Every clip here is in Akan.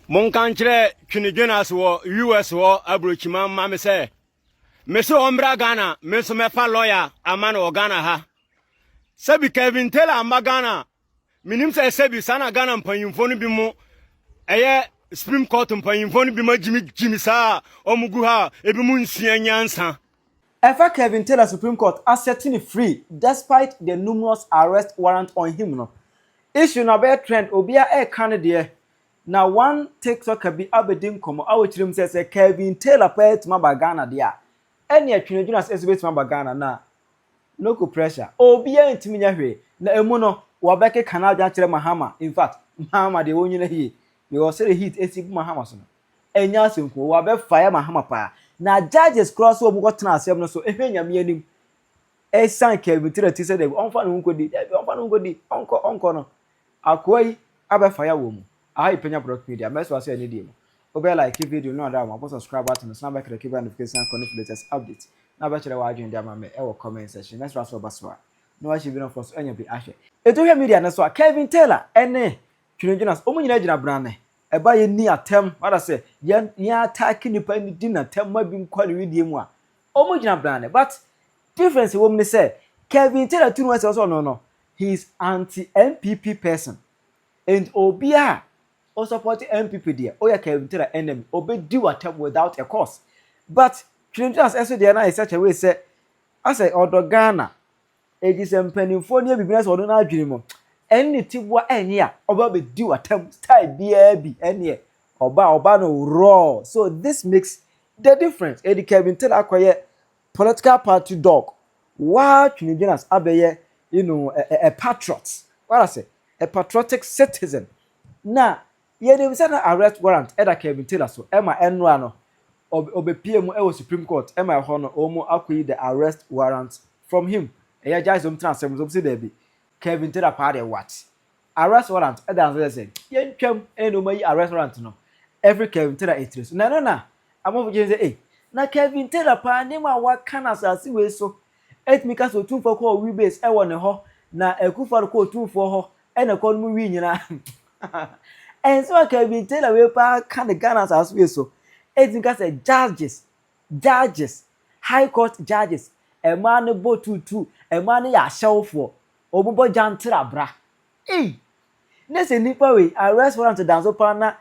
Monka nkyerɛ Twene Jonas wɔ US hɔ aburokyima mma me sɛ mese ɔmmra Ghana me nso mɛfa lɔya ama no wɔ Ghana ha. Sɛbi Kevin Taylor mma Ghana menim sɛ sɛbi saa na Ghana mpanyimfoɔ no bi mo ɛyɛ Supreme Court mpanyimfoɔ no bi ma gyimi gyimi saa a wɔgu ha a ebi mo nsua nyansa. Ɛfa Kevin Taylor Supreme Court asɛte no free despite the numerous arrest warrant on him no issue no abɛyɛ trend obiara ɛreka ne deɛ na one tiktoker bi abɛdi nkɔmmɔ a ɔkyerɛ mu sɛ sɛ Kevin Taylor paa atumi aba Ghana deɛ a ɛneɛ Twene Jonas nso bɛtumi aba Ghana na local pressure obiara ntumi nyɛ hwee na ɛmu no wɔbɛkeka n'adwene akyerɛ Mahama infact Mahama deɛ wɔnyina yie because sɛdeɛ heat asi gu Mahama so no Ɛnyɛ asɛm ko wa bɛ fa yɛ ma hama paa na judges koraa so ɔmo kɔ tena asɛm no so ɛhwɛ nyame anim ɛsan Kelvin tira ti sɛ dabi ɔnfa ne ho nkɔ di dabi ɔnfa ne ho nkɔ di ɔnkɔ ɔnkɔ no akoa yi abɛ fa yɛ wɔ mu aha yɛ panya product media mɛ so asɛ ɛne deɛ mu wobɛ like video no ada wɔ abɔ subscribe button no san bɛ click bɛ notification akɔ no latest update na bɛ kyerɛ wɔ adwene de ama mɛ ɛwɔ comment section mɛ so asɛ ɔba so a na wahyɛ bi na ɔfɔ so ɛnya bi ahwɛ Etuhwɛ media no so a Kelvin Taylor ɛne Twenedwene ase. Wɔn nyinaa gyina bena ne ɛba a yɛnni atɛm, rather sɛ, yɛn yɛn attack nipa ne di natɛm ma binom kɔ ne wedeɛ mu a, wɔn gyina bena ne. But difference a ɛwɔ mu ne sɛ, Kevin Tera tu ne ho asɛm sɛ ɔno no, he is anti NPP person. Enti obiara a ɔsupporte NPP deɛ, woyɛ Kevin Tera enemy, ɔbɛdi wo atɛm without a cause. But Twenedwene ase nso deɛ na ayɛ sɛ kyɛwee sɛ, asɛ ɔdɔ Ghana, Enti sɛ mpanimfoɔ no yɛ biribi na sɛ ɔno n'adwene mu ɛne tiboa ɛnyɛ a, ɔba bɛdi w'atam style biara bi ɛneɛ ɔba ɔba no raw. So this makes the difference. Edi Kevin Taylor akɔyɛ political party dog. Waa twinidwene as abɛyɛ you know a, a, a patriot. What I say? A patriotic citizen. Na yɛnim sɛ na arrest warrant ɛda Kevin Taylor so ɛma ɛnora no ɔbɛpie mu ɛwɔ Supreme Court ɛma ɛhɔ no wɔn akɔyi the arrest warrant From him, Ɛyɛ agya sɛ ɔntena asɛm no so? Ɔbɛse daabi. Kevin tell Apaa deɛ what? A restaurant ɛda no so kyerɛ sɛ yɛntwam ɛne nnoɔma yi a restaurant no ɛfiri Kevin Taylor etire so na ɛno na amanfoɔ gye tom sɛ ei na Kevin Taylor paa nneɛma a waka no asase wei so ɛtumi ka sɛ otumfoɔ kɔɔ wii base ɛwɔ ne hɔ na Akufo Addo kɔɔ otumfoɔ hɔ ɛna ɛkɔɔ no mu wii nyinaa ɛnsɛm a Kevin Taylor wei paa ka no Ghana asase wei so ɛtumi ka sɛ judges Judges, High Court Judges, mmaa no bɔ tuutu, mmaa no yɛ ahyɛwofoɔ, wɔn bɔ gyantra bra. Ei! Ne sɛ nipa wei, arrest warrant da nso paa na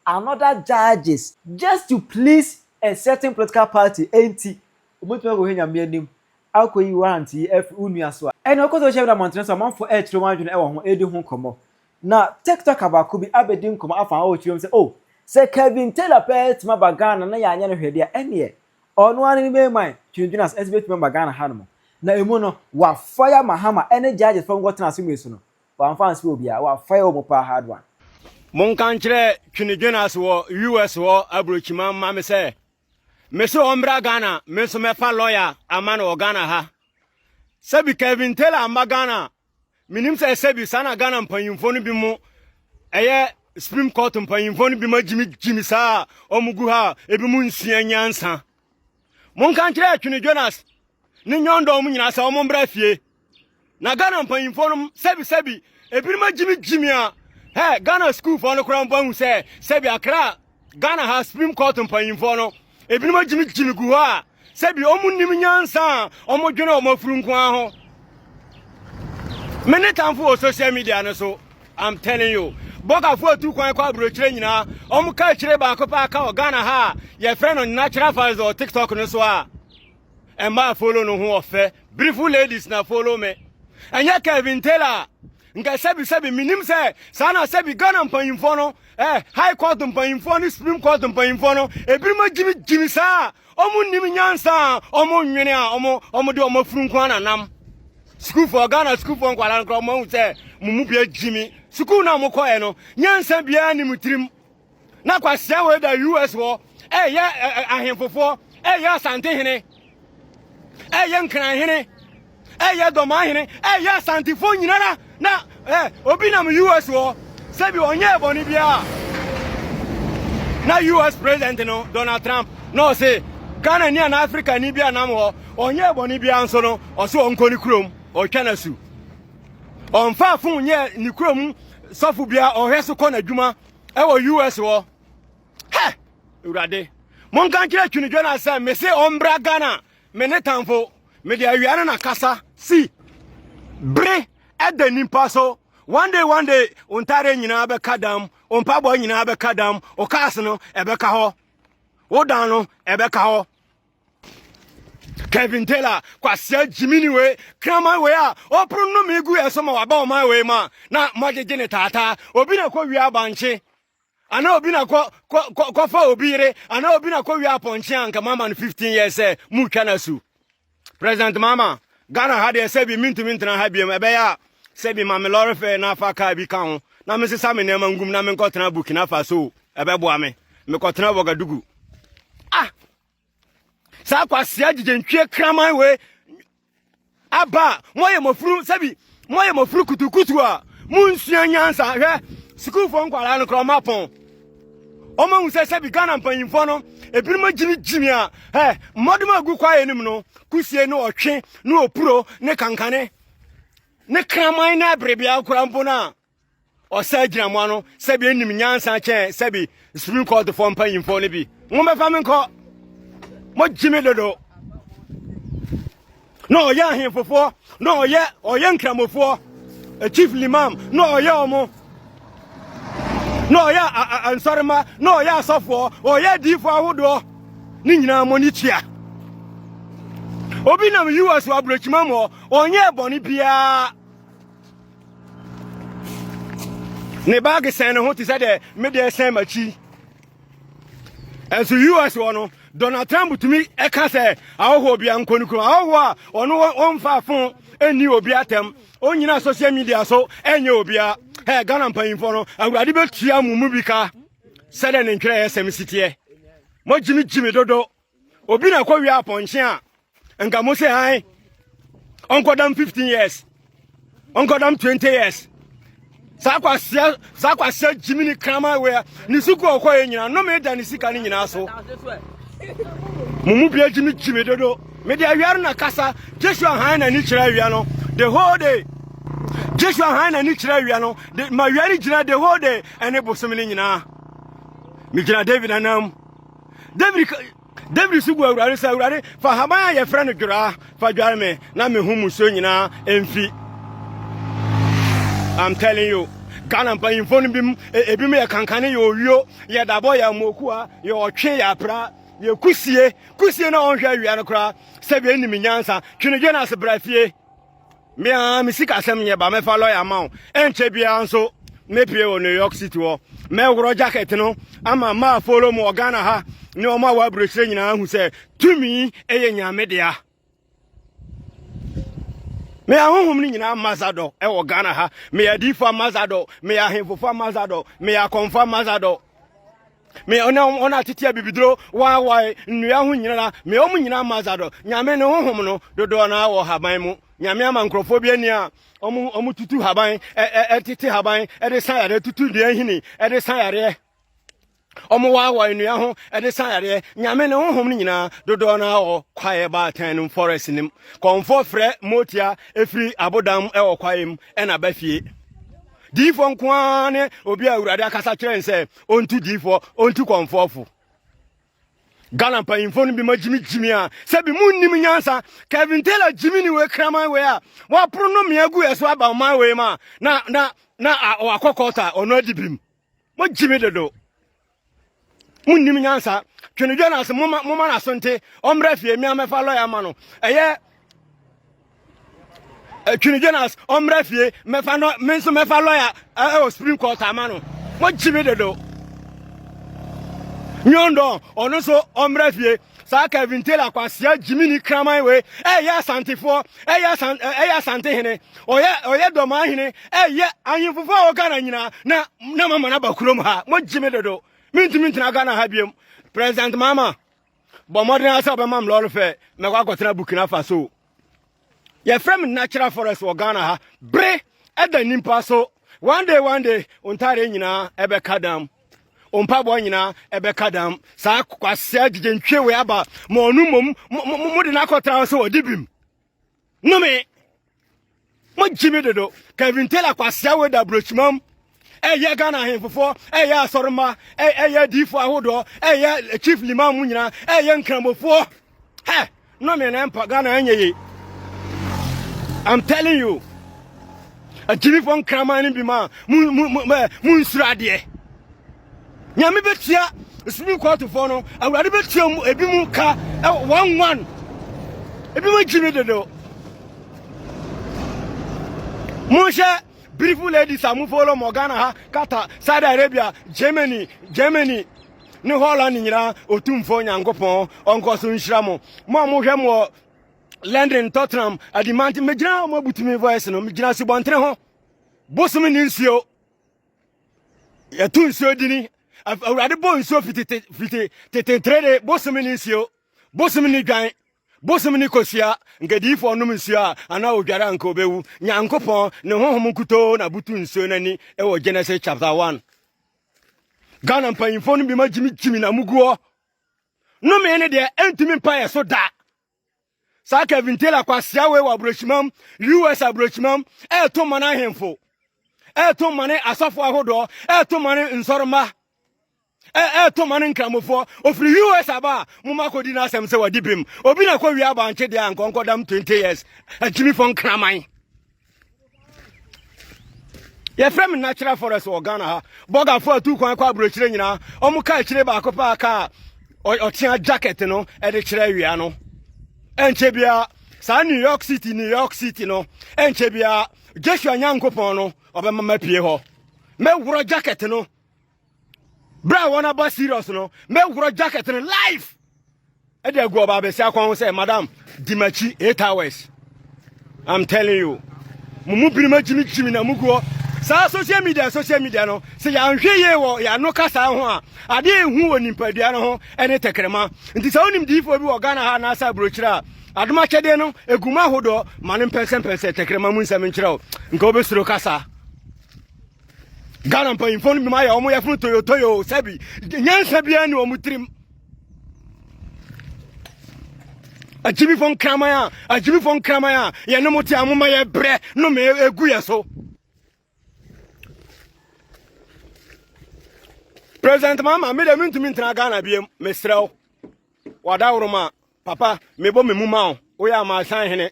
another judges, just to please a certain political party nti, wɔbɛtumi akɔhwɛ Nyame anim akɔyi warrant yi afiri wo nua so a, ɛnna ɔkɔ so hyɛ da mmɔntene so amanfoɔ ɛrekyerɛ wɔn adwene wɔ ho, ɛredi ho nkɔmmɔ, Na TikToker baako bi abɛdi nkɔmmɔ afa hɔ wɔ twirom sɛ, Oh, sɛ Kevin Taylor pɛ ara atumi aba Ghana na yɛanyɛ no hwee de a, ɛnneɛ ɔno ara ne ne main man, dwinnwene ase, nso bɛtumi aba Ghana hanom. Na emu no, wɔafaya Mahama ne judges paa a wɔnkɔtena asemmue so no, wɔamfa ansra obiara, wɔafaya wɔn paa hard one. Monka nkyerɛ Twinedwene ase wɔ US hɔ aburokyiman mma me sɛ, mese ɔmmra Ghana, me nso mɛfa lɔya ama no wɔ Ghana ha. Sɛbi Kevin Taylor amma Ghana Menim sɛ sɛ bi saa na Ghana mpanyimfoɔ no bi mo ɛyɛ Supreme Court mpanyimfoɔ no bi ma gyimi gyimi saa a wɔn gu ha a ebi mo nsua nyansa. Monka nkyerɛ Atwene Jonas ne nyɔndɔn mu nyinaa sɛ wɔn mbra fie. Na Ghana mpanyimfoɔ no sɛbi sɛbi ebinom agyimi gyimi a hɛ Ghana sukuufoɔ no koraa mpo ahu sɛ sɛbi akra Ghana ha Supreme Court mpanyimfoɔ no, ebinom agyimigyimi gu hɔ a, sɛbi wɔn nim nyansa a wɔn dwene wɔn afuru nko ara ho. Mene tamfo wɔ social media no so, I'm telling you. Bɔkafo atu kwan kɔ aburokyerɛ nyinaa, wɔn ka akyire baako paa ka wɔ Ghana ha a, yɛfrɛ no natural fans wɔ TikTok no so a. Ɛmaa follow no ho ɔfɛ. Beautiful ladies na follow me. Ɛnyɛ Kevin Taylor Nka sɛbi sɛbi menim sɛ saa na sɛbi Ghana mpanyimfoɔ no eh, High Court mpanyimfoɔ ne Supreme Court mpanyimfoɔ no ebinom agyimigyimi saa a wɔn nim nyansa a wɔn nwene a wɔn wɔn de wɔn afunu nko na nam sukuufoɔ Ghana sukuufoɔ nkwadaa no koraa wɔn ahu sɛ mo mu bi agyimi sukuu no a wɔkɔɛ no nyansa biara ne mo tirim na kwasia wei da us hɔ ɛyɛ ahemfofoɔ ɛyɛ asantehene ɛyɛ nkranhene ɛyɛ dɔmanhene ɛyɛ asantefoɔ nyinara na obi nam us hɔ sɛbi ɔnyɛ ɛbɔne biara na us president no donald trump na ɔse ghana ni ana africa ni bi anam hɔ ɔnyɛ ɛbɔne biara nso no ɔse ɔnkɔ ne kurom ɔtwa no asu ɔmfa fon nyɛ ne kurom sɔfo biara ɔhwɛ so kɔ n'adwuma ɛwɔ us hɔ hɛ awurade monka nkyerɛ twini dwana sɛ mese ɔmbra ghana me ne tamfo mede awia no na kasa si bere ɛda nipa so one day one day ontare nyinaa bɛka dam ompabɔ nyinaa bɛka dam okaas no ɛbɛka hɔ wodan no ɛbɛka hɔ Kevin Taylor kwasea gyimini wei kraman wei a ɔporo nnome gu yɛ so ma waba ɔman wei mu a na moagyegye ne taataa obi na kɔ wie abankye anaa obi na kɔ kɔfa obi yere anaa obi na kɔ wie apɔnkye a nka moama no 15 years sɛ motwa no asu president mama ghana ha deɛ sɛ bi mentumi ntena ha biam ɛbɛyɛ a sɛ bi ma me lɔre fɛ na afa kaa bi ka ho na mesesa me nneɛma ngum na menkɔtena burkina faso ɛbɛboa me mekɔtena wagadugu ah saa kwasia gyigye kraman wei aba a moyɛ mɔfuru sɛbi moyɛ mɔfuru kutukutu a monsua nyansa hwɛ sukuufoɔ nkwadaa no kora ɔma pɔn ɔma hu sɛ sɛbi ghana mpanyimfoɔ no ebinom agyimigyimi a ɛ mmɔdom a gu kwaeɛ anim no kusie ne ɔtwe ne opuro ne kankane ne kraman ne aberebea kora mpo no a Ɔsɛe gyina mo ano sɛbi enim nyansa kyɛn sɛbi Supreme Court fɔ mpanyimfo no bi. Mo bɛfa me nkɔ. Mo gye me dodo. Na ɔyɛ ahemfofoɔ, na ɔyɛ ɔyɛ nkramofoɔ, eh, chief limam, na ɔyɛ ɔmo. Na ɔyɛ ansɔrema, na ɔyɛ asɔfoɔ, ɔyɛ adiifo ahodoɔ. Ne nyinaa mo ni tua. Obi nam US wɔ aburokyima mu, ɔnyɛ bɔne biara. ne baage sɛn ne ho te sɛ deɛ me deɛ sɛn m'akyi ɛnso us wɔ no donald trump tumi ɛka sɛ ahɔhoɔ bia nkɔ no kurom ahɔhoɔ a ɔno ɔmfa fo ɛnni obi atɛm ɔnyina social media so ɛnyɛ obia ɛ ghana mpanyimfoɔ no awurade bɛtua mo mu bi ka sɛdeɛ ne ntwerɛeɛ sɛm si teɛ mogyimi gyimi dodo obi na kɔ wia apɔnkye a nka mo sɛ han ɔnkɔdam 15 years ɔnkɔdam 20 years saa kwasia saa kwasia gyimi ne kraman wea ne sukuu ɔkɔ yɛ nyina no me da ne sika ne nyinaa so mo mu bia gyimi gyimi dodo me de awia no na kasa Joshua han na ni kyerɛ awia no the whole day Joshua han na ni kyerɛ awia no de ma awia ne gyina the whole day ɛne bosom ne nyinaa me gyina David anam Dawid si buaa Awurade sɛ, Awurade, fa haban a yɛfrɛ no dworaa fa dware me na me ho musuo nyinaa mfi. I'm telling you. Ghana mpanyimfo no bim e, ebinom yɛ kankane yɛ owio yɛ dabɔ yɛ amokuwa yɛ ɔtwe yɛ apra yɛ kusie kusie na ɔnhwɛ awia no koraa sɛbi enim nyansa twenedwe na ase bra fie Me ara me sikasɛm nyɛ ba mɛfa lɔya ama wo ɛnkyɛ biara nso mɛpie wɔ new york city hɔ mɛworɔ jacket no ama ma afolo mu wɔ ghana ha ne ɔma a wɔaburokyerɛ nyinaa hu sɛ tumi ɛyɛ nyame dea me ahohom no nyinaa mazadɔ ɛwɔ ghana ha meyɛ adiifoɔ mazadɔ meyɛ ahemfofoɔ mazadɔ meyɛ akɔmfoɔ mazadɔ Me ɔne wɔn a tete abibiduro waawae nnua ho nyinara, me wɔn nyinaa ma Zadok. Nyame ne honhom no dodoɔ no ara wɔ haban mu. Nyame ama nkurɔfoɔ bi ani a wɔn tutu haban, tete haban de sa yareɛ, tutu nnua hini de sa yareɛ. Wɔn waawae nnua ho de sa yareɛ. Nyame ne honhom no nyinaa dodoɔ no ara wɔ kwaeɛ baatan no mu forest no mu. Kɔmfoɔ frɛ motia ɛfiri abodam mu wɔ kwaeɛ mu ɛna ba fie. Diifoɔ nko ara ne obi a Awurade akasa kyerɛ n sɛ ɔntu diifoɔ ɔntu kɔmfoɔfo Ghana mpanyimfoɔ no bi ma gyimi gyimi a sɛ bi mu nnim nyansa Kevin Taylor gyimi ne wei kraman wei a wɔaporo no mmea gu ɛso aba ɔman wei ma na na na wakɔ kɔta ɔno adi bim mo gyimi dodo mo nnim nyansa Twene Jonas moma moma n'aso nte ɔmmra fie mmea mɛfa lɔya ma no ɛyɛ Atwene Jonas ɔmmra fie mɛfa no me nso mɛfa lɔya ɛwɔ Supreme Court ama no. Mo gye me dodo. Nyondon ɔno nso ɔmmra fie. Saa Kevin Taylor kwasia Jiminy kraman wei ɛyɛ asantefoɔ ɛyɛ asan ɛyɛ asantehene ɔyɛ ɔyɛ dɔmaa hene ɛyɛ ahemfofoɔ a ɔgana nyinaa na na mama no aba kurom ha. Mo gye me dodo. Mintumi ntena Ghana ha biom. President Mama. Bɔ mmɔden ara sɛ wobɛma me lɔre fɛ mɛkɔ akɔtena Burkina Faso. Yɛfrɛ me natural forest wɔ Ghana ha. Bere ɛda nipa so. One day one day wo ntadeɛ nyinaa ɛbɛka dam. Wo mpaboa nyinaa ɛbɛka dam. Saa kwasea gyegye ntwe wei aba ma ɔno mmom mode no akɔtra sɛ ɔde bim. Nome! Mogye me dodo. Kevin Taylor kwasea wei da aburokyimam ɛyɛ Ghana ahemfofoɔ ɛyɛ asɔremma ɛyɛ adiifoɔ ahodoɔ ɛyɛ chief limam mu nyinaa ɛyɛ nkramofoɔ hɛ nome na ɛmpa Ghana ɛnyɛ ye I'm telling you agyimifoɔ nkraman no bi ma mo nsuro adeɛ Nyame bɛtua Supreme Court foɔ no, Awurade bɛtua mu ebi mu ka one one. Ebi mu gyi ne dede o. Monhyɛ beautiful ladies a mo follow mo Ghana ha, Qatar, Saudi Arabia, Germany, Germany, ne Holland nyinaa otumfoɔ Nyankopɔn ɔnkɔ so nhyira mo. Mo a mohwɛ mo wɔ London, Tottenham, Adimante, megyina mo abutumi voice no, megyina Subɔntene ho. Bosom ne nsuo. yɛto nsuo dini awurade bɔ nsuo fiti fiti tetetere de bosom ne nsuo bosom ne dwan bosom ne kosua nkadiyifoɔ nom nsuo a anaa odware anka obɛwu nyankopɔn ne honhom nkutoo na butu nsuo no ani wɔ genesis chapter 1 ghana mpanyimfoɔ no bi ma gyimi gyimi na muguɔ nomee ne deɛ ɛntumi mpa yɛ so da Saa Kevin Taylor kwasea wei wɔ aburokyimam, US aburokyimam, ɛreto mma no ahemfo, ɛreto mma no asɔfo ahodoɔ, ɛreto mma no nsɔremma, ɛreto mma no nkramofoɔ. Ofiri US aba a, mo ma kɔdi n'asɛm sɛ wadi bem. Obi na kɔwie abankye deɛ a nkɔnkɔdam 20 years, akyimifo nkraman. yɛfrɛ me natural forest wɔ ghana ha bɔgafo atu kwan kɔ aburokyerɛ nyinaa ɔmo ka akyire baako paa kaa ɔtea jacket no ɛde kyerɛ awia no ɛnkyɛ biara saa new york city new york city no ɛnkyɛ biara joshua nyankopɔn no ɔbɛma mapie hɔ mɛworɔ jacket no berɛ a wɔn aba serious no mɛworɔ jacket no life ɛde agu ɔba abɛsi akwan ho sɛ madam di m'akyi eight hours i'm telling you mo mu binom agyimi gyimi na mugu hɔ saa social media social media no sɛ yɛanhwɛ yie wɔ yɛano kasa ho a adeɛ ɛhu wɔ nipadua no ho ɛne tɛkrɛma nti sɛ wonim diifoɔ bi wɔ ghana ha anaasɛ aburokyerɛ a adom akyɛdeɛ no ɛgu mu ahodoɔ ma no mpɛnsɛmpɛnsɛ tɛkrɛma mu nsɛm nkyerɛ wo nka wobɛsuro kasa ghana mpanyimfoɔ no binom ayɛ wɔn yɛfono toyotoyo sɛbi nyansa biara ne wɔn tirim agyimifoɔ nkraman a agyimifoɔ nkraman a yɛne mo te a moma yɛ brɛ no ma ɛgu yɛ so president mama me dɛ mentumi ntena ghana biam meserɛ wo wadaworoma a Papa, mebɔ me mu ma wo, woyɛ amansan hene.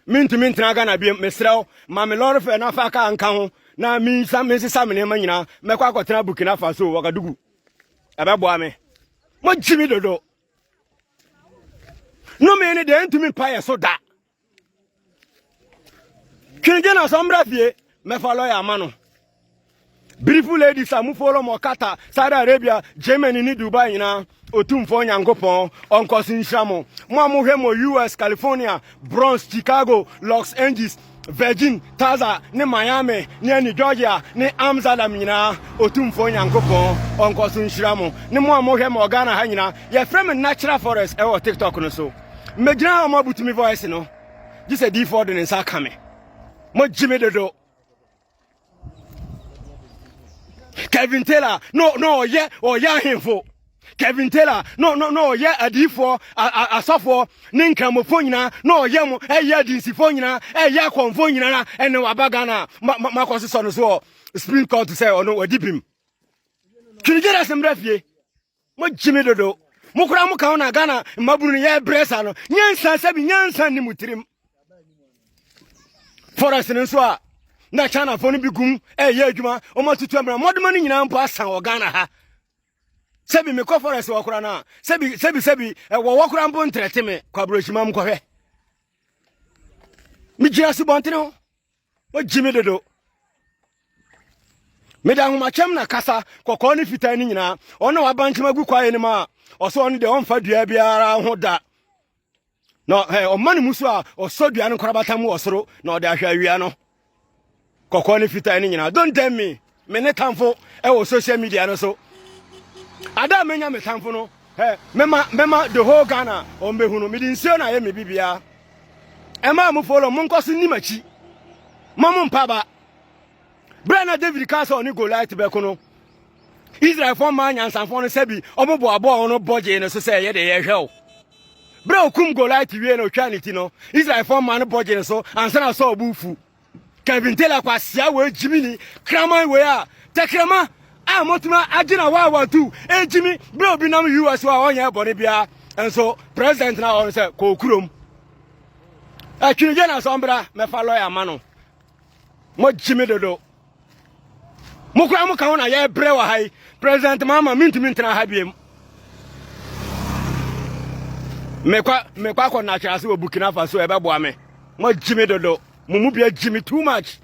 Mintumi ntena Ghana biam, mesrɛ wo, ma me lɔre fɛ na fa kaa nka ho na minsa mensesa me nneɛma nyinaa, mɛkɔ akɔtena Burkina Faso, Wagadugu. Ɛbɛboa me. Mogye me dodo. Nnome ne deɛ ɛntumi mpa yɛ so da. Dwendwen asɛm mmra fie mɛfa lɔya ama no. Beautiful ladies a mo follow mo Qatar, Saudi Arabia, Germany ne Dubai nyinaa otumfoɔ Nyankopɔn ɔnkɔso nhyira mo. Mo a mohwɛ mo US, California, Bronx, Chicago, Los Angeles, Virgin, Taza ne Miami ne ani Georgia ne Amsterdam nyinaa otumfoɔ Nyankopɔn ɔnkɔso nhyira mo. Ne mo a mohwɛ mo Ghana ha nyinaa yɛfrɛ me Natural Forest ɛwɔ TikTok no so. Mmegyina a wɔabutu me voice no gye sɛ diifoɔ de ne nsa aka me. Mogye me dodo. Kevin Taylor no no ɔyɛ ɔyɛ ahemfo. Kevin Taylor no no no ɔyɛ adiifoɔ asɔfoɔ ne nkramofoɔ nyinaa na ɔyɛ mo ɛyɛ adinsifoɔ nyinaa ɛyɛ akɔnfoɔ nyinaa ɛne waba Ghana makɔ sesɔ no so wɔ Supreme Court sɛ ɔno wadi bim. Twene gyerɛ sɛ mmerɛ fie. mogye me dodo mo koraa mo ka ho na ghana mmabunu no yɛbrɛ saa no nyansa sɛ bi nyansa nni mo tirim forest no nso a na chinafoɔ no bi gum ɛyɛ adwuma wɔn atutu amena mmɔdoma no nyinaa mpo asan wɔ ghana ha sɛbi mekɔ forest wɔ kora no a sɛbi sɛbi sɛbi wɔwɔ kora mpo ntrɛte me kɔ aburohyima m kɔhwɛ megyina asubɔntene ho ogye me dodo meda ahomakyɛm na kasa kɔkɔɔ ne fitaa no nyinaa ɔno waba nkyɛm agu kwaeɛ no mu a ɔsɛ ɔno deɛ ɔmfa dua biara ho da na ɔma no mu so a ɔsɔ dua no nkorabata mu wɔ soro na ɔde ahwɛ awia no kɔkɔɔ ne fitaa no nyinaa don't tell me me ne tamfo wɔ social media no so ada a menya me tamfo no ɛ mema mema the whole ghana ɔmbɛhu no mede nsuo no ayɛ me bibiaa ɛma mo folo mo nkɔ so nni m'akyi ma mo mpa ba berɛ na david ka sɛ ɔne goliat bɛko no israelfoɔ maa nyansafoɔ no sɛbi ɔmoboaboa wɔn bɔ gyee no so sɛ ɛyɛ de yɛhwɛ o berɛ okum goliat wie na ɔtwaa ne ti no israelfoɔ maa no bɔ gyee no so ansa na sɛ ɔbo fu Kevin Taylor kwasia wei gyimini kraman wei a tɛkrɛma a motuma agyina hɔ a watu egyimi bere obi nam US a ɔnyɛ bɔne biara nso president na ɔno sɛ kɔɔ kurom atwinigye na sɔmbra mɛfa lɔya ma no mogyimi dodo Mo koraa mo ka ho na yɛbrɛ wɔ ha yi. President Mahama mintumi ntena ha biem. Mekɔ mekɔ akɔ na akyerɛ ase wɔ Burkina Faso ɛbɛboa me. Mo agyi me dodo. Mo mu bi agyi me too much.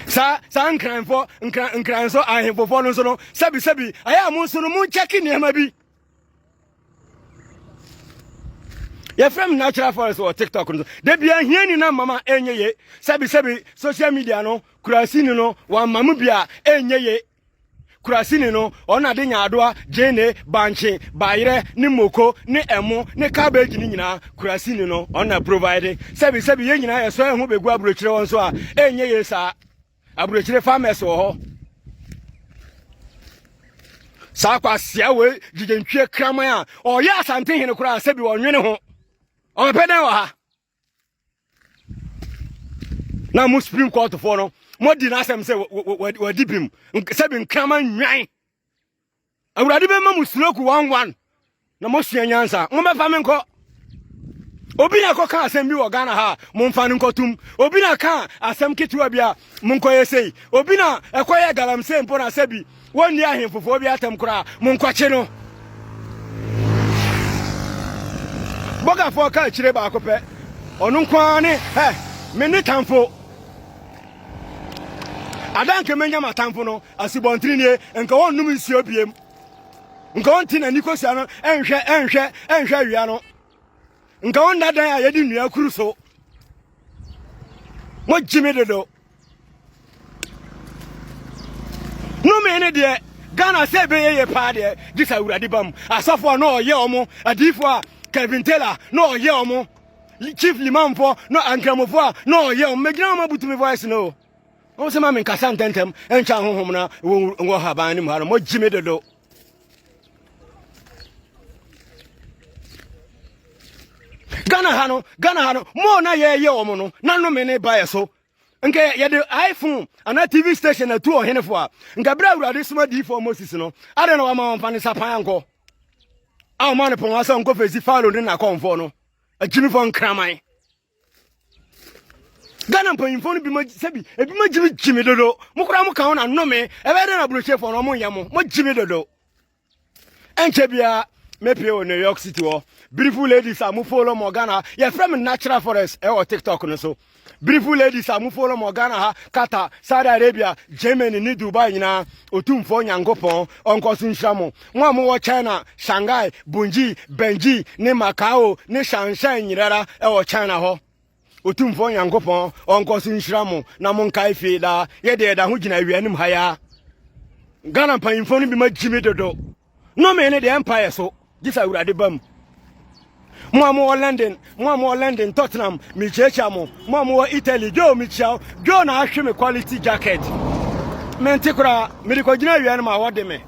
Sa sa nkranfo nkran nkranso ahemfofo no nso no sɛbi sɛbi ayɛ a mo nso no mo nkyɛke nneɛma bi. yɛfrɛ me natural forest wɔ tiktok no so da bia hiani no mama ɛnyɛ ye sɛbisɛbi social media no kurasini no wamma mu bi a ɛnyɛ ye kurasini no ɔna de nyaadoa gyeene bankye bayerɛ ne moko ne ɛmo ne cabbage no nyinaa kurasini no ɔna provide sɛbisɛbi yɛ nyinaa yɛsɔ ɛho bɛgu aburokyerɛ wɔn so a ɛnyɛ ye saa Aburokyire farmers wɔ hɔ. Saa kwasia wei gyigye ntwie kraman a ɔyɛ asante hene koraa sɛ bi ɔnwene ho. Ɔbɛpɛ dɛn wɔ ha? Na mo Supreme Court foɔ no, mo di n'asɛm sɛ wadi bim sɛ bi nkraman nwan. Awurade bɛma mo sinoku wanwan na moasua nyansa. Mommɛfa me nkɔ. Obi na ɛkɔka asɛm bi wɔ Ghana ha a, momfa no nkɔtom. Obi na ka asɛm ketewa bi a, monkɔyɛ sei. Obi na ɛkɔyɛ galamsey mpo na sɛ bi wɔnni ahemfofoɔ bi atam koraa, monkɔkye no. Bɔgafoɔ ka akyire baako pɛ, ɔno nko ara ne, hɛ, me ne tamfo. Ada nka menya m'atamfo no asubɔntene nie, nka wɔnnom nsuo biem, nka wɔnte n'ani kosua no nhwɛ nhwɛ nhwɛ awia no, nka wɔnna dan a yɛde nnua kuru so. Mogye me dodo. Nome ne deɛ Ghana sɛ ɛbɛyɛ yɛ paa deɛ gye sɛ awurade bam asɔfo a na ɔyɛ ɔmo adiifo a Kevin Taylor na ɔyɛ ɔmo chief limamfoɔ na ankramofoɔ a na ɔyɛ wɔn mɛgyina wɔn abutu me voice no wɔn sɛ ma me nkasa ntɛntɛm nkyɛn ahohom na wɔn wɔ haban ne mu ha no wɔgye me dodo. ghana ha no ghana ha no mo na yɛyɛ wɔn no na nnome ne ba yɛ so nka yɛde iphone anaa tv station na tu ɔhene fo a nka bere awurade soma diifoɔ moses no adɛn na wama wɔmfa ne sapan ankɔ a wɔma no pɔn asɛ ɔnkɔ fɛsi falo ne nakɔmfoɔ no akyimifoɔ nkraman ghana mpanyimfoɔ no bi ma sɛbi ebi ma gyimi gyimi dodo mo koraa mo ka ho na nnome ɛbɛyɛ dɛ na aburokyefoɔ no ɔmo nyɛ mo mo gyimi dodo ɛnkyɛ biara mepie wɔ new york city hɔ beautiful ladies a mo follow mo ghana yɛfrɛ me natural forest ɛwɔ tiktok no so beautiful ladies a mo follow mo ghana ha qatar saudi arabia germany ne dubai nyinaa ɔtumfoɔ nyankopɔn ɔnkɔ so nhyira mo mo a mowɔ china shanghai bunji benji ne macao ne shanshan nyinara ɛwɔ china hɔ Otumfoɔ Nyankopɔn ɔnkɔ so nhyira mo na monkae fie daa. Yɛ deɛ ɛda ho gyina awia anim ha yaa. Ghana mpanyimfoɔ no bi ma gyimi dodo. Nnome ne deɛ ɛmpaeɛ so gye sɛ awurade ba mu. Mo a mowɔ London, mo a mowɔ London, Tottenham, mekyiakyia mo. Mo a mowɔ Italy, Joe mekyia wo. Joe na ahwe me quality jacket. Mente koraa, mede kɔgyina awia no ma wɔde me.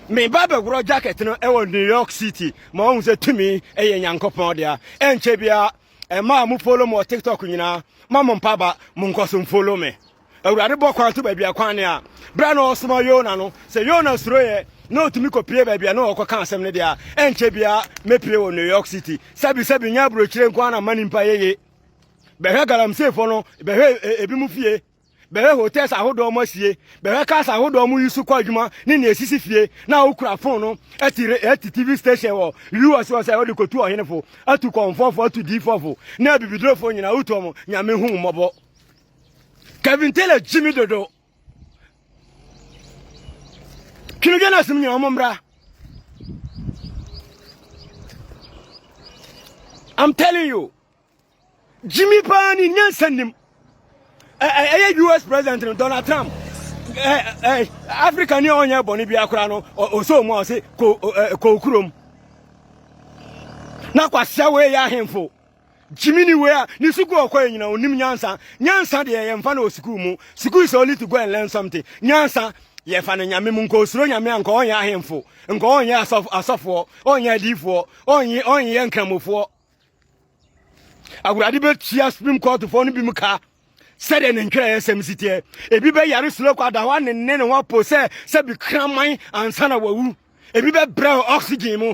Meba bɛworɔ jacket no wɔ New York City ma wɔhu sɛ tumi yɛ Nyankopɔn dea. Ɛnkyɛ biara Ɛmaa mo follow mo wɔ tiktok nyinaa ma mo mpa ba mo nkɔso follow me awurade bɔ kwan to baabi akwan ne a berɛ na ɔsoma yona no sɛ yona suroyɛ na ɔtumi kɔpie baabi a na ɔkɔ ka asɛm no deɛ a ɛnkyɛ biara mɛpie wɔ new york city sɛbisɛbi nyɛ aburokyire nko a na mma nimpa yɛye bɛhwɛ galamseefoɔ no bɛhwɛ ebi mu fie Bɛhwɛ hotels ahodoɔ mu asie, bɛhwɛ cars ahodoɔ mu yi so kɔ adwuma ne nea esisi fie, na wokura phone no ɛte re ɛte TV station wɔ US hɔ sɛ wode kɔtu ɔhenefo, atu kɔmfoɔfo, atu diifɔfo, ne abibidurofo nyinaa wotu wɔn, Nyame hu wo mmɔbɔ. Kevin Taylor gye me dodo. Twinodwa no asem nyinaa wɔn mmra. I'm telling you. Gyimi paa ni nyansa nnim. Ɛyɛ US president no Donald Trump. Africa ni a ɔnyɛ bɔne biara koraa no ɔsɛ mu a ɔse kɔ kurom. Na kwasea wei yɛ ahemfo. Gyimi ni wei a ne sukuu ɔkɔ yɛ nyina ɔnim nyansa. Nyansa deɛ yɛmfa no wɔ sukuu mu. Sukuu is only to go and learn something. Nyansa yɛfa no nyame mu nkɔ osuro nyame a nkɔ ɔnyɛ ahemfo nkɔ ɔnyɛ asɔfoɔ ɔnyɛ adiifoɔ ɔnyɛ ɔnyɛ nkramofoɔ Awurade bɛtua Supreme Courtfoɔ no binom ka sɛdeɛ ne ntwerɛeɛ sɛm si teɛ. Ebi bɛyare slow kwa da hɔ ne ne ne ho apo sɛ sɛ bi kraman ansa na wawu. Ebi bɛbrɛ oxygen mu.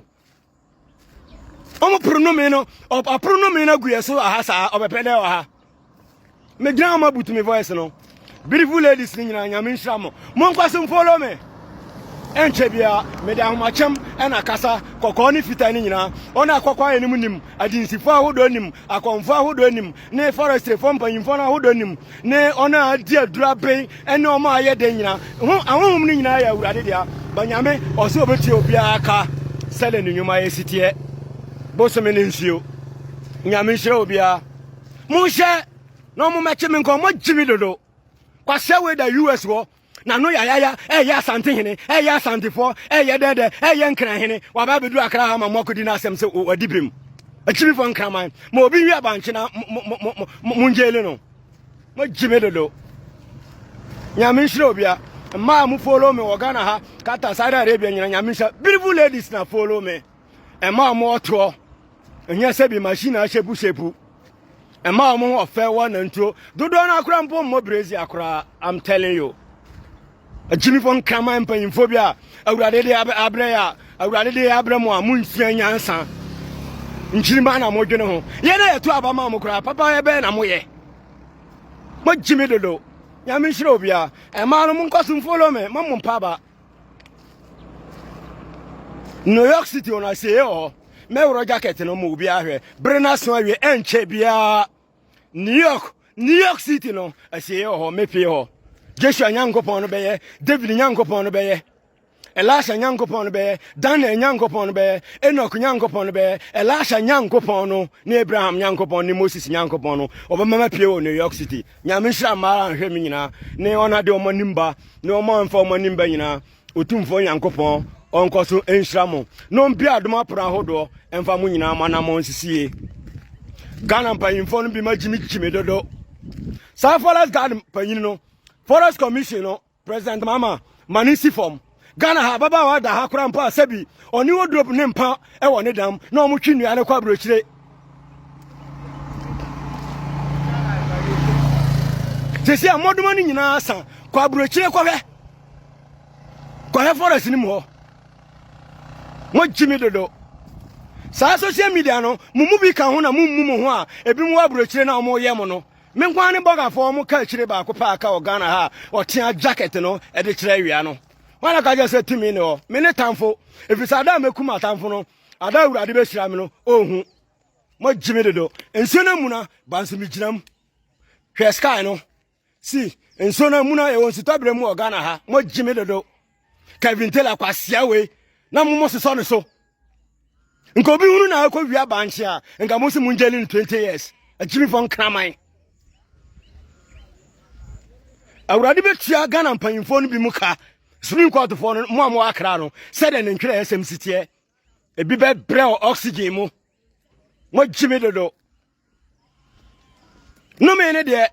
Wɔn poronome no, ɔporonome no agu yɛ so aha saa, ɔbɛpɛ dɛ ɔha. Me gyina ɔmo abutu me voice no. Beautiful ladies ni nyina nyame nhyira mo. Mo nkɔ so follow me. Ɛnkyɛ bia me de ahomakyɛm ɛna kasa kɔkɔɔ ne fitaa ne nyinaa. Ɔno akɔkɔɔ ayɛ ne mu nim, adinsifo ahodoɔ nim, akɔmfo ahodoɔ nim, ne forestryfo mpanyinfo no ahodoɔ nim, ne ɔno a adi aduro aben ɛne ɔmo ayɛ den nyinaa. Ho ahohom no nyinaa yɛ awurade dea. Ba nyame ɔsɛ obetua obiara ka sɛdeɛ ne nnwuma yɛ siteɛ. Bosome ne nsuo. Nyame nhyira obiara. Monhyɛ na ɔmo mɛkye me nka ɔmo gye me dodo. Kwasea wei da US hɔ n'ano yayaya ɛyɛ asante hene ɛyɛ asantefoɔ ɛyɛ dɛdɛ ɛyɛ nkran hene waba abɛduru akra ha ma mo akɔdi n'asɛm sɛ wadi birim akyimifoɔ nkraman ma obi nwi abankye na mongyeele no mogye me dodo nyame nhyira obia mmaa mo follow me wɔ ghana ha kata saudi arabia nyina nyame nhyira beautiful ladies na follow me ɛma ɔmo ɔtoɔ ɛnyɛ sɛ bi machine a hyɛpusɛpu ɛma wɔn ho ɔfɛ wɔ nantuo dodoɔ no akora mpo mmɔ brezi akora i'm telling you akyimifo nkraman mpanyimfo bi a awurade de abrɛ yɛ a awurade de abrɛ mu a monsua nyansa nkyirima na modwene ho yɛn a yɛto aba ma mo koraa papa yɛbɛyɛ na moyɛ mogyimi dodo nyame nhyira obiara ɛmaa no monkɔ so mfolo me ma mo mpa aba new york city ɔno asieɛ wɔ hɔ mɛworɔ jacket no ma obi ahwɛ bere no aso awie ɛnkyɛ biara new york new york city no asieɛ wɔ hɔ mɛpie hɔ joshua nyankopɔn no bɛyɛ david nyankopɔn no bɛyɛ elisha nyankopɔn no bɛyɛ daniel nyankopɔn no bɛyɛ enoch nyankopɔn no bɛyɛ elisha nyankopɔn no ne abraham nyankopɔn ne moses nyankopɔn no ɔbɛma mapie wɔ new york city nyame nhyira mmaara nhwɛ me nyinaa ne ɔno ade ɔma nimba ne wɔn a wɔmfa wɔn anim ba nyinaa otumfoɔ nyankopɔn ɔnkɔ so nhyira mo na ɔmpia adom apono ahodoɔ mfa mo nyinaa mo anammɔn nsisie ghana mpanyimfoɔ no bi ma gyimigyimi dodo saa forest guard panyin no forest commission no president mama ma ne si fam ghana ha ababaawa da ha kora mpo a sɛbi ɔne odurop ne mpa wɔ ne dam na ɔmotwe nnua no kɔ aburokyire sɛsi a mmɔdoma no nyinaa sa kɔ aburokyire kɔhwɛ kɔhwɛ forest no mu hɔ mogye me dodo saa social media no mo mu bi ka ho na mommu mo ho a ebi mu wɔ aburokyire no a wɔyɛ mo no me nkwa ne bɔgafoɔ wɔn ka akyire baako paa ka wɔ ghana ha a ɔtea jacket no de kyerɛ awia no wọn na ka kyerɛ sɛ tumi ne hɔ me ne tamfo efisɛ ada a mɛkum atamfo no Ada Awurade bɛhyira me no, ɔhu. Moagye me dodo. Nsuo no amuna, ba nso megyina mu. Hwɛ sky no. Si, nsuo no amuna, yɛwɔ nsutɔberɛ mu wɔ Ghana ha. Moagye me dodo. Kevin Taylor kwasea wei na mo mo sesɔ ne so. Nka obi hunu na akɔ wia bankye a, nka mo si mo ngyeli no 20 years. Akyimifo nkraman. Awurade bɛtua Ghana mpanyimfoɔ no bi mu ka Supreme Court foɔ no mo a mo akra no sɛdeɛ ne ntwerɛ ɛsɛm si teɛ ebi bɛ brɛ wɔ oxygen mo mo gye me dodo nnome ne deɛ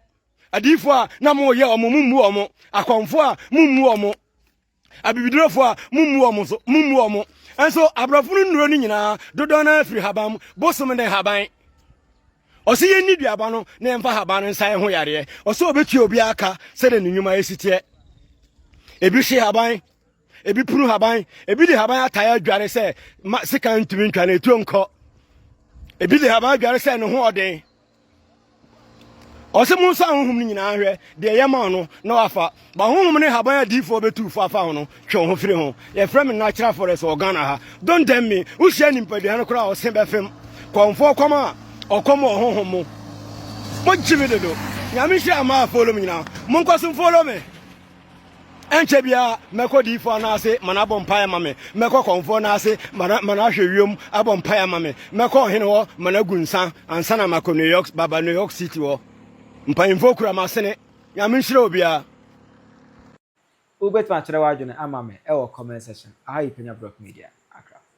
adiifoɔ a na mo yɛ ɔmo mo mmu ɔmo akɔnfoɔ a mo mmu ɔmo abibidurofoɔ a mo mmu ɔmo so mo mmu ɔmo nso aborɔfo no nnuro no nyinaa dodoɔ no afiri haban bosom ne haban Ɔsɛ yɛnni duaba no na yɛmfa haban no nsa yɛ ho yareɛ. Ɔsɛ ɔbɛtua obiara ka sɛdeɛ ne nnwuma ɛsi teɛ. Ebi hye haban, ebi punu haban, ebi de haban atae adware sɛ ma sika ntumi ntwa na etuo nkɔ. Ebi de haban adware sɛ ne ho ɔden. Ɔsɛ mo nso ahohom no nyinaa hwɛ deɛ yɛma no na wafa Ma honhom ne haban a diifoɔ bɛtu fo afa ho no twe wo ho firi ho. Yɛfrɛ me natural forest wɔ Ghana ha. Don't tempt me. Wohyia nipadua no koraa a ɔse bɛfem. Kɔmfoɔ kɔm a ɔkɔm wɔ honhom mu. Mogye me dodo. Nyame nhyira mmaa a follow me nyinaa. Monkɔ so mfollow me. Ɛnkyɛ biara mɛkɔ diifoɔ no ase ma no abɔ mpaeɛ ma me. Mɛkɔ kɔmfoɔ no ase ma no ma no ahwɛ wiem abɔ mpaeɛ ma me. Mɛkɔ ɔhene hɔ ma no agu nsa ansa na makɔ New York baba New York City hɔ. Mpanyimfoɔ kura m'asene. Nyame nhyira obiara. Wobɛtumi akyerɛ w'adwene ama me wɔ comment section. Aha yɛ Penya Brock Media, Accra.